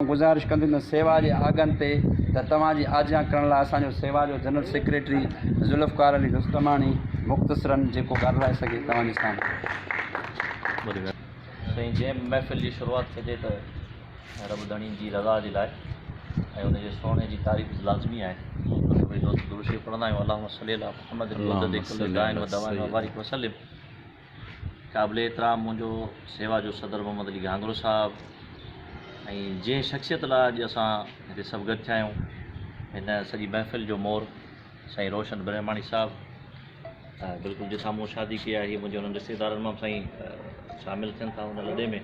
آئون گذارش ڪندندس سيوا جي آگهن تي ته توهان جي آجيان ڪرڻ لاء اسان جو سيوا جو جنرل سيڪريٽري ذوالفقار علي رستماڻي مختصراً جيڪو ڳالهرائي سگهي توهان جي سامهون. سائين جنهن به محفل جي شروعات ٿئي ته رب ڌڻي جي رضا جي لاء ۽ ان جي سونهن جي تعريف به لازمي آهي ته سڀئي دوست درود شريف پڙهندا آهيون اللهم صلي علي محمد مدد ڪل داء و دواء وبارڪ وسلم قابل احترام منهنجو سيوا جو صدر محمد علي گهانگرو صاحب ۽ جنهن شخصيت لاء اڄ اسان هتي سڀ گڏ ٿيا آهيون هن سڄي محفل جو مور سائين روشن برهماڻي صاحب بلڪل جتان مون شادي ڪئي آهي منهنجي انهن رشتيدارن مان به سائين شامل ٿين ٿا ان لڏي ۾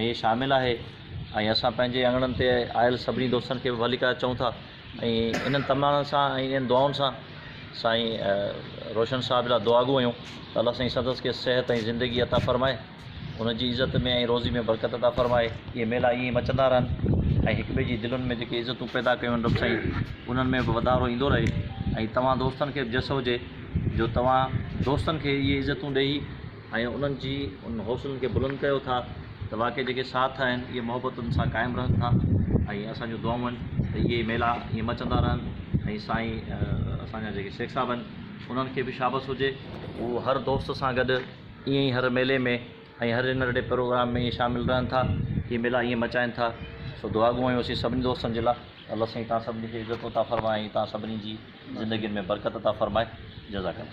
۾ شامل آهي ۽ اسان پنهنجي اڱڻن تي آيل سڀني دوستن کي به ڀليڪا چئون ٿا ۽ انهن تمنائن سان ۽ انهن دعائن سان سائين روشن صاحب لاء دعاگو آهيون ته الله سائين سندس کي صحت ۽ زندگي عطا فرمائي ان جي عزت ۾ ۽ روزي ۾ برڪت عطا فرمائي اهي ميلا ائين ئي مچندا رهن ۽ هڪ ٻئي جي دلن ۾ جيڪي عزتون پيدا ڪيون آهن رب سائين انهن ۾ به وڌارو ايندو رهي ۽ توهان دوستن کي به جس هجي جو توهان دوستن کي اهي عزتون ڏيئي ۽ انهن جي انهن حوصلن کي بلند ڪيو ٿا ته واقعي جيڪي ساٿ آهن اهي محبتن سان قائم رهن ٿا ۽ اسان جون دعائون آهن ته اهي ئي ميلا ائين مچندا رهن ۽ سائين اسان جا جيڪي شيخ صاحب آهن انهن کي به شابس هجي هو هر دوست سان گڏ ائين ئي هر ميلي ۾ ۽ هر ننڍڙي پروگرام ۾ ائين شامل رهن ٿا اهي ميلا ائين مچائن ٿا سو دعا گو آهيون اسين سڀني دوستن جي لاء الله سائين توهان سڀني کي عزت عطا فرمائي ۽ توهان سڀني جي زندگين ۾ برڪت عطا فرمائي جزاڪ الله.